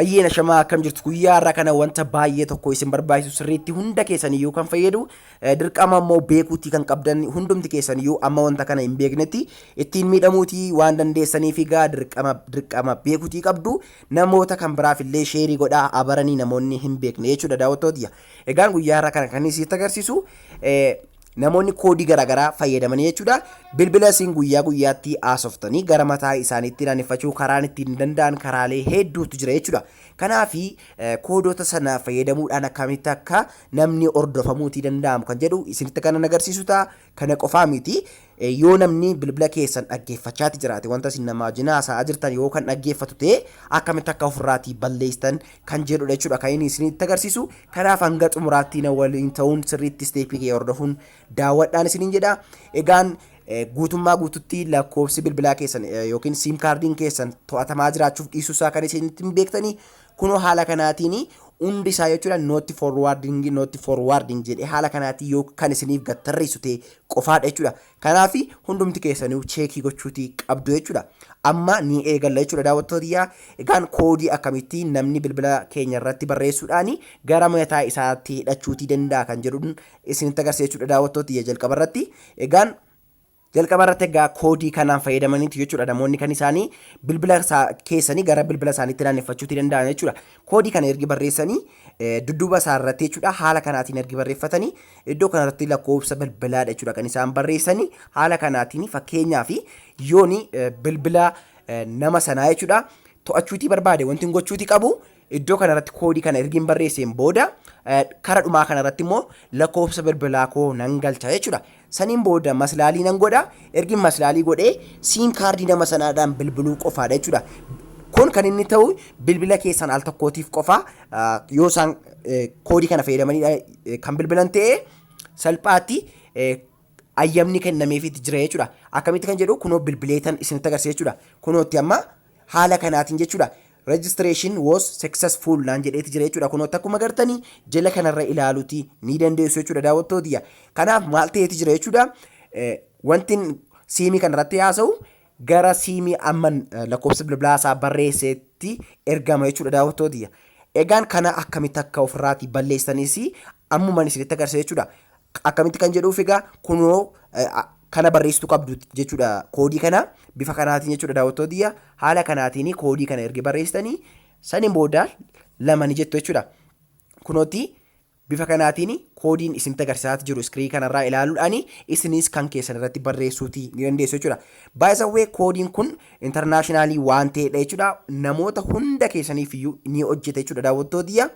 Ayyeen ashamaa akkam jirtu guyyaa har'a kana wanta baay'ee tokko isin barbaachisu sirriitti hunda keessan iyyuu kan fayyadu eh, dirqama immoo beekuutii kan qabdan hundumti keessan iyyuu amma wanta kana hin beeknetti ittiin miidhamuutii waan dandeessaniif egaa dirqama dirqama beekuutii qabdu namoota kan biraaf illee sheerii godhaa abaranii namoonni hin beekne jechuudha daawwattootiyya. Egaan guyyaa har'a kana kan isitti agarsiisu eh, Namoonni koodii garaagaraa fayyadamanii jechuudha. Bilbila isin guyyaa guyyaatti haasoftanii gara mataa isaaniitti naanneffachuu karaan ittiin danda'an karaalee hedduutu jira jechuudha. Kanaaf koodota sana fayyadamuudhaan akkamitti akka namni hordofamuutii danda'amu kan jedhu isinitti kanan agarsiisu ta'a. Kana qofaa miti. Yoo namni bilbila keessan dhaggeeffachaati jiraate wanta isin namaa wajjin haasa'aa jirtan yoo kan dhaggeeffatu ta'e akkamitti akka ofirraatii balleessitan kan jedhudha jechuudha kan inni isinitti agarsiisu kanaaf hanga xumuraatti na waliin ta'uun sirriitti isteepii kee hordofuun daawwadhaan isiniin jedha egaan guutummaa guututti lakkoofsi bilbilaa keessan yookiin siim kaardiin keessan to'atamaa jiraachuuf dhiisuu isaa kan isinitti hin beektanii kunoo haala kanaatiin hundi isaa jechuudha nootti forwaardingi nootti forwaardingi jedhee haala kanaatiin yoo kan isiniif gattarreessu ta'e qofaadha jechuudha Kanaaf hundumti keessaniyu cheekii gochuuti qabdu jechuudha. Amma ni eegalla jechuudha daawwattoota yaa. Egaan koodii akkamitti namni bilbila keenya irratti barreessuudhaan gara mataa isaatti hidhachuutii danda'a kan jedhuun isinitti agarsiisa jechuudha daawwattoota yaa jalqaba irratti. Egaan jalqaba irratti egaa koodii kanaan fayyadamaniiti jechuudha namoonni kan isaanii bilbila isaa keessanii gara bilbila isaaniitti naanneffachuutii danda'an jechuudha. Koodii kana ergi barreessanii dudduuba isaa irratti jechuudha haala kanaatiin ergi barreeffatanii iddoo kanarratti lakkoofsa bilbilaadha jechuudha kan isaan barreessanii haala kanaatiin fakkeenyaaf yooni bilbila nama sanaa jechuudha to'achuutii barbaade wanti hin gochuutii qabu iddoo kanarratti koodii kana ergi hin barreesseen booda kara dhumaa kanarratti immoo lakkoofsa bilbilaa koo nan galcha jechuudha Saniin booda maslaalii nan godha. Ergin maslaalii godhee siim kaardii nama sanaadhaan bilbiluu qofaadha jechuudha. Kun kan inni ta'u bilbila keessan al tokkootiif qofa yoo isaan koodii kana fayyadamanii kan bilbilan ta'e salphaatti ayyamni kennameefiitti jira jechuudha. Akkamitti kan jedhu kunoo bilbileetan isinitti agarsiisa jechuudha. Kunootti amma haala kanaatiin jechuudha. Registration was successful naan jedheeti jira jechuudha. Kunoo akkuma gartanii jala kanarra ilaaluti ni dandeessu jechuudha daawwattootiyya. Kanaaf maal ta'eeti jira jechuudha. Wanti siimii kanarratti haasa'u gara siimii amman lakkoofsa bilbilaa isaa barreesseetti ergama jechuudha daawwattootiyya. Egaan kana akkamitti akka ofirraati balleessanis ammuman isinitti agarsiisa jechuudha. Akkamitti kan jedhuuf egaa kunoo kana barreessitu qabdu jechuudha koodii kana bifa kanaatiin jechuudha daawwattootiyya haala kanaatiin koodii kana ergi barreessitanii saniin booda lama ni jettu jechuudha. Kunooti bifa kanaatiin koodiin isin agarsiisaa jiru iskirii kanarraa ilaaluudhaan isinis kan keessan irratti barreessuuti ni dandeessu jechuudha. Baay'isawwee koodiin kun intarnaashinaalii waan ta'edha jechuudha. Namoota hunda keessaniif iyyuu ni hojjeta jechuudha daawwattootiyya.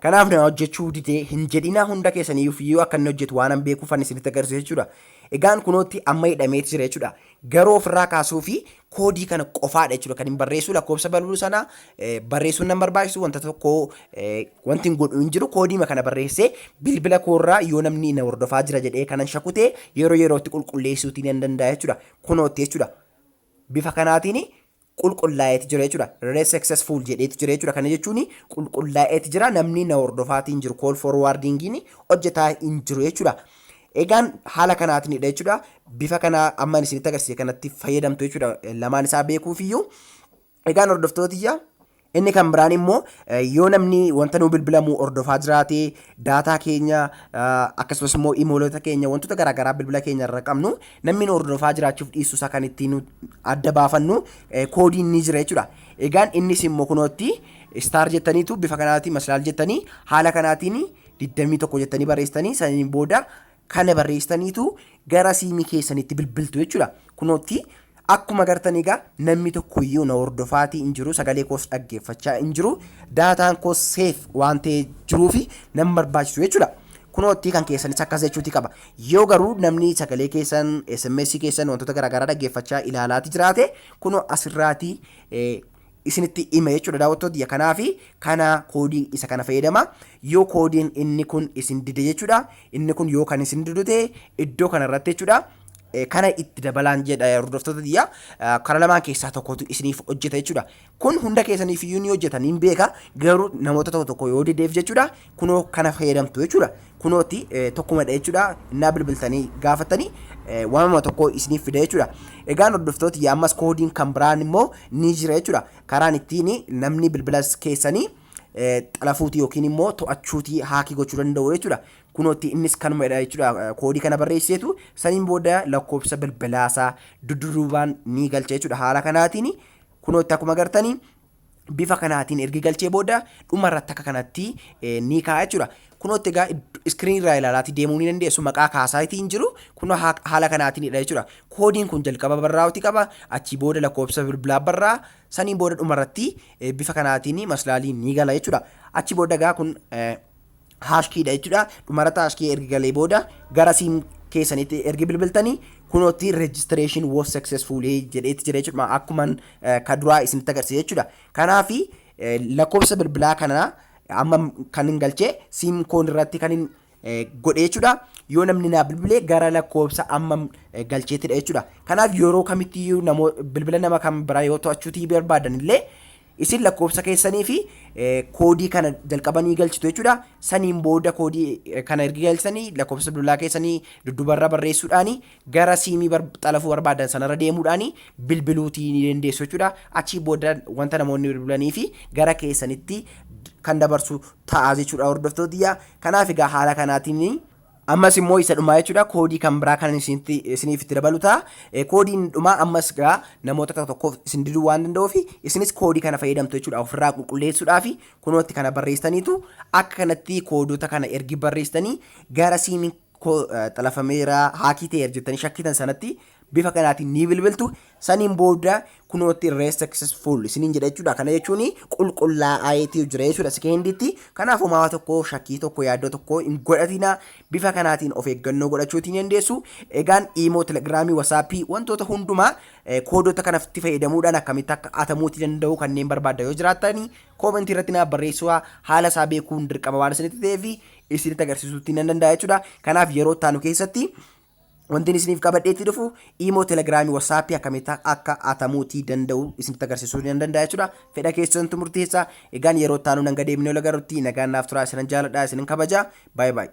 Kanaaf na hojjechuu didee hin jedhinaa hunda keessaniyyuu fiyyoo akka inni hojjetu waanan beekuufan isinitti agarsiisa jechuudha. Egaan kunootti amma hidhameeti jira jechuudha. Garuu ofirraa kaasuu fi koodii kana qofaadha jechuudha kan hin barreessuu lakkoofsa balbaluu sana barreessuun nan barbaachisu wanta tokko wanti hin godhu hin jiru koodiima kana barreessee bilbila koorraa yoo namni na hordofaa jira jedhee kanan shakutee yeroo yerootti qulqulleessuutii nan danda'a jechuudha. Kunootti jechuudha. Bifa kanaatiin qulqullaa'eeti jira jechuudha. Re successful jedheeti jira jechuudha. Kana jechuun qulqullaa'eeti jira namni na hordofaatii hin jiru call forwardingiin hojjetaa hin jiru jechuudha. Egaan haala kanaatinidha jechuudha. Bifa kana amma isinitti agarsiise kanatti fayyadamtu jechuudha. Lamaan isaa beekuufiyyuu. Egaan hordoftootiyya Inni kan biraan immoo yoo namni wanta nuu bilbilamu hordofaa jiraate daataa keenya akkasumas immoo imoolota keenya wantoota garaagaraa bilbila keenya irra qabnu namni nu hordofaa jiraachuuf dhiisu isaa kan ittiin adda baafannu koodiin ni jira jechuudha. Egaan innis immoo kunootti istaar jettaniitu bifa kanaatiin maslaal jettanii haala kanaatiin 21 jettanii barreessitanii saniin booda kana barreessitaniitu gara siimii keessanitti bilbiltu jechuudha. Kunootti akkuma gartan egaa namni tokko iyyuu na hordofaatii hin jiru sagalee koos dhaggeeffachaa hin jiru daataan koos seef waan ta'ee jiruu fi nan barbaachisu jechuudha. Kunootti kan keessanis akkas jechuuti qaba. Yoo garuu namni sagalee keessan SMS keessan wantoota garaagaraa dhaggeeffachaa ilaalaati jiraate kunoo asirraati isinitti hima jechuudha daawwattoota kiyya kanaafi kana koodii isa kana fayyadama yoo koodiin inni kun isin dide jechuudha inni kun yoo kan isin didu ta'e iddoo kana irratti jechuudha eh, kana itti dabalaan jedha hordoftoota kiyya eh, kara lamaan keessaa tokkotu isiniif hojjeta jechuudha kun hunda keessaniif iyyuu ni hojjeta niin beeka garuu namoota tokko tokko yoo dideef jechuudha kunoo kana fayyadamtu jechuudha. Kunooti tokkumadha jechuudha. Innaa bilbiltanii gaafatanii waamama tokko isiniif fida jechuudha. Egaan hordoftoota yaammas koodiin kan biraan immoo ni jira jechuudha. Karaan ittiin namni bilbila keessanii xalafuuti yookiin immoo to'achuuti haakii gochuu danda'u jechuudha. Kunooti innis kanumadha jechuudha. Koodii kana barreesseetu saniin booda lakkoofsa bilbilaasaa dudduubaan ni galcha jechuudha. Haala kanaatiin kunooti akkuma gartanii bifa kanaatiin ergi galchee booda dhuma irratti akka kanatti eh, ni kaa'a jechuudha. Kunootti egaa iskiriinii irraa ilaalaatii deemuu ni dandeessu maqaa kaasaa itti hin jiru kunoo haa- haala kanaatiinidha jechuudha. Koodiin kun jalqaba barraa'uti qaba achii booda lakkoofsa bilbilaa barraa saniin booda dhuma irratti eh, bifa kanaatiin maslaaliin ni gala jechuudha. Achii booda egaa kun eh, hash key dha jechuudha. Dhumarratti hash key ergi galee booda gara siim keessanitti ergi bilbiltanii kunootti registration was successful jedheetti jira jechuudha. Akkuma ka duraa isinitti agarsiise jechuudha. Kanaaf lakkoofsa bilbilaa kana amma kan hin galchee siim koon irratti kan hin godhe jechuudha. Yoo namni naa bilbilee gara lakkoofsa amma galcheettidha jechuudha. Kanaaf yeroo kamittiyyuu bilbila nama kam biraa yoo to'achuutii barbaadan illee Isin lakkoofsa keessanii fi koodii kana jalqaba ni galchitu jechuudha. Saniin booda koodii kana ergi galchitanii lakkoofsa bilbilaa keessanii duddubarra barreessuudhaani gara siimii xalafuu barbaadan sanarra deemuudhaani bilbiluutii ni dandeessu jechuudha. Achii booda wanta namoonni bilbilanii fi gara keessanitti kan dabarsu ta'a jechuudha hordoftootiyya. Kanaaf egaa haala kanaatiin Ammas immoo isa dhumaa jechuudha koodii kan biraa kan isinitti isiniif itti dabalu ta'a. Eh, Koodiin dhumaa ammas gaa namoota tokko tokkoof isin diduu waan danda'uuf isinis koodii kana fayyadamtu jechuudha ofirraa qulqulleessuudhaaf kunootti kana barreessitaniitu akka kanatti koodota kana ergi barreessitanii gara siimiin koo eh, xalafameera haakii ta'eera jettanii shakkitan sanatti bifa kanaatiin ni bilbiltu saniin booda kunootti irree successful isiniin jedha jechuudha kana jechuun qulqullaa'aayeetii jira jechuudha sekendiitti kanaaf homaa tokko shakkii tokko yaaddoo tokko hin godhatina bifa kanaatiin of eeggannoo godhachuutiin dandeessu egaan iimoo telegiraamii wasaappii wantoota hundumaa koodota kanatti fayyadamuudhaan akkamitti akka atamuuti danda'u kanneen barbaadda yoo jiraatanii koomentii irratti naaf barreessuu haala isaa beekuun dirqama waan isinitti ta'eef isinitti agarsiisuutti nan danda'a jechuudha kanaaf yeroo ittaanu keessatti Wantiin isiniif qabadhee itti dhufu imoo telegiraamii wasaapii akkamitti akka atamuutii danda'u isinitti agarsiisuu nan danda'a jechuudha. Fedha keessantu murteessa. Egaan yeroo itti aanu nan gadeemnee ol agarrutti nagaan naaf turaa isinan jaaladha isinin kabaja. Baay'ee baay'ee.